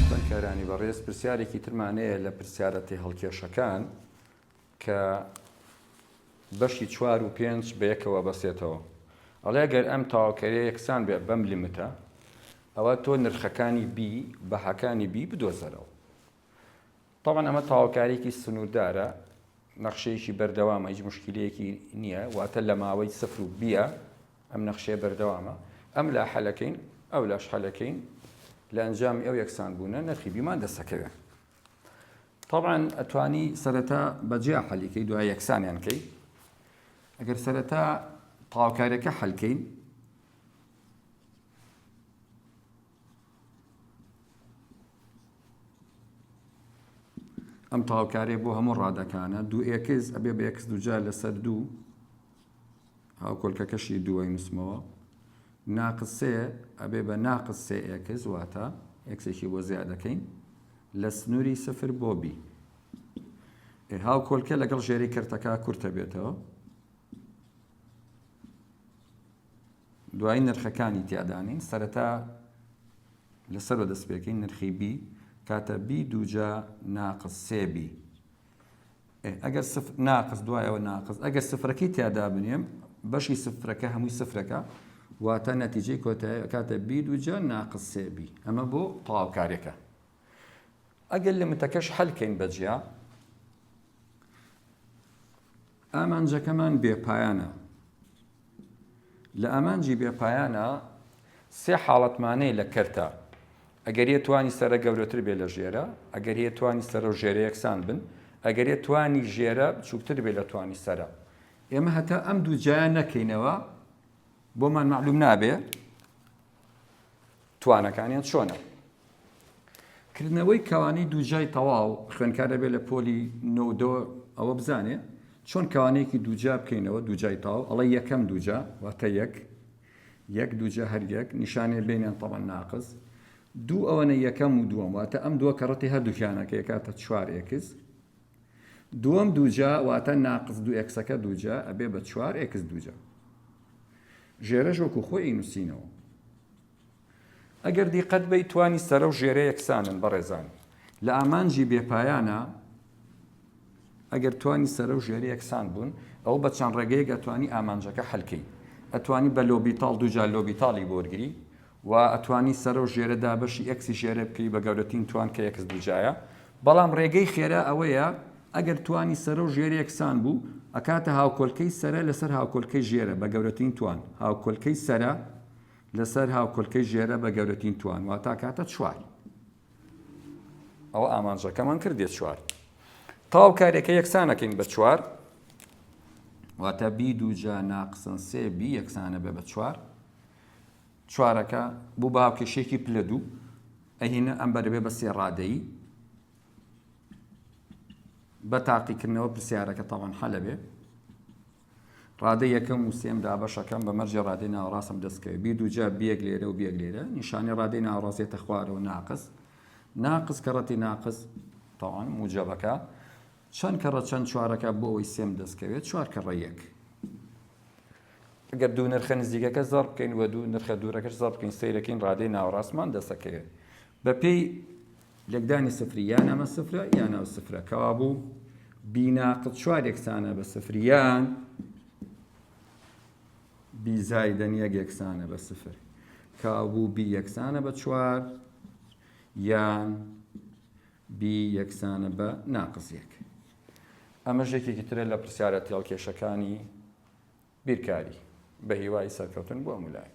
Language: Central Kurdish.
خوێندکارانی بەڕێز پرسیارێکی ترمان هەیە لە پرسیارە تێهەڵکێشەکان کە بەشی چوار و پێنج بەیەکەوە بەسێتەوە ئەڵێ گەر ئەم تاواکەرێ یەکسان بێ بەم لیمتە ئەوە تۆ نرخەکانی بی بەهاکانی بی بدۆزەرەوە تەبعەن ئەمە تاوەکاریەکی سنوردارە نەخشەیەکی بەردەوامە هیچ مشکلەیەکی نییە واتە لە ماوەی سفر و بیە ئەم نەخشەیە بەردەوامە ئەم لا حەلەکەین ئەو لاش حەلەکەین لە ئەنجامی ئەو یەکسان بوونە نرخی بیمان دەسەکەوێن طبعا ئەتوانی سەرەتا بەجیا حەلیکەی دوای یەکسانیان کەی ئەگەر سەرەتا تاوکارەکە حەلکەین ئەم تاوکارێ بۆ هەموو ڕادەکانە دوو ئێکس ئەبێ بە ئێکس دوجار لەسەر دوو هاوکۆلکەکەشی دووەی نووسمەوە ناقسێ ئەبێ بە ناقس سێ ئێکس واتە ئێکسێکی بۆ زیاد دەکەین لە سنووری سفر بۆ بی هاو کۆلکە لەگەڵ ژێری کردەکە کورتە بێتەوە دوایی نرخەکانی تیادا نین سەرەتا لەسەرۆ دەست پێکەین نرخی بی کاتە بی دووجا ناقس سێ بی ئەگەر ناقس دوایەوە ناقس ئەگەر سفرەکەی تیادا بنێم بەشی سفرەکە هەمووی سفرەکە واتە نەتیجەی کۆتایەکاتە بی دوجە ناقسێبی ئەمە بۆ تەواوکارێکە ئەگەر لمتەکەش حەلکەین بەجیا ئامانجەکەمان بێپایانە لە ئامانجی بێپایانە سێ حاڵەتمانەی لە کەرتە ئەگەر یە توانی سرە گەورەتر بێ لە ژێرە ئەگەر یە توانی سەرە و ژێرە یەکسان بن ئەگەر یە توانی ژێرە بچووکتر بێ لە توانی سرە ئێمە هەتا ئەم دوو جیان نەکەینەوە بۆمان معلوم نابێ توانەکانیان چۆنە کردنەوەی کەوانەی دووجای تەواو، خوێندکار ئەبێ لە پۆلی نۆ و دە ەوە بزانێ چۆن کەوانەیەکی دووجا بکەینەوە، دووجای تەواو، ئەڵێ یەکەم دووجا، واتە یەک، یەک دووجا هەر یەک، نیشانەی بەینیان تەبەن ناقس، دوو ئەوەنە یەکەم و دووەم، واتە ئەم دووە کەڕەتی هەردووکیانە کە یەکاتە چوار ئێکس، دووەم دووجا، واتە ناقس دوو ئێکسەکە دووجا ئەبێ بە چوار ئێکس دووجا. ژێرەش وەکو خۆی ئەینووسینەوە. ئەگەر دیقەت بەی توانی سەرە و ژێرە یەکسانن بەڕێزان. لە ئامانجی بێ پایانە ئەگەر توانی سەرە و ژێرە یەکسان بوون ئەوە بە چەند ڕێگەیەک ئەتوانی ئامانجەکە حەل کەی ئەتوانی بە لۆبیتاڵ دوو جار لۆبیتاڵی بۆ وەرگری و ئەتوانی سەرە و ژێرە دابەشی ئێکسی ژێرە بکەی بە گەورەترین توان کە ئێکس دوو جایە بەڵام ڕێگەی خێرا ئەوەیە ئەگەر توانی سەرە و ژێرە یەکسان بوو ئەکاتە هاوکۆلکەی سەرە لەسەر هاوکۆلکەی ژێرە بە گەورەترین توان هاوکۆلکەی سەرە لەسەر هاوکۆلکەی ژێرە بە گەورەترین توان واتا کاتە چوار. ئەوە ئامانجەکەمان کردێت چوار. تاو کارێکە یەکسانەکەین بە چوار. واتە بی دووجا ناقسن سێ بی یەکسانە بە بە چوار. چوارەکە بوو بە هاوکێشێکی پلە دوو. ئەهینە ئەم بەرەبێ بە سێ ڕادەیی. بە تاقیکردنەوە پرسیارەکە تاوان حەلەبێ. ڕادەی یەکەم و سێم دابەشەکەم بە مەرجێ ڕادەی ناوەڕاستم دەستکەوێت بی دووجا بیەک لێرە و بیەک لێرە نیشانی ڕادەی ناوەڕاستێتە خوارەوە ناقص ناقص کە ڕەتی ناقص تاوان موجەبەکە چەند کە ڕە چەند چوارەکە بۆ ئەوەی سێم دەستکەوێت چوار کە ڕە یەک گەر دوو نرخە نزیکەکە زەڕ بکەین وە دوو نرخە دوورەکەش زەڕ بکەین سیرەکەین ڕادەی ناوەڕاستمان دەسەکەوێت بەپێی لێکدانی سفری یا نەمە سفرە یا ناو سفرە کەوا بوو بیناقل چوار یەکسانە بە سفریان بیزایدەن یەک یەکسانە بە سفر کابوو بی یەکسانە بە چوار یان بی یەکسانە بە ناقزیەک ئەمە ژێکێکی ترە لە پرسیارە تێڵکێشەکانی بیرکاری. بە هیوای سەرکەوتن بۆ هەموو لایەک.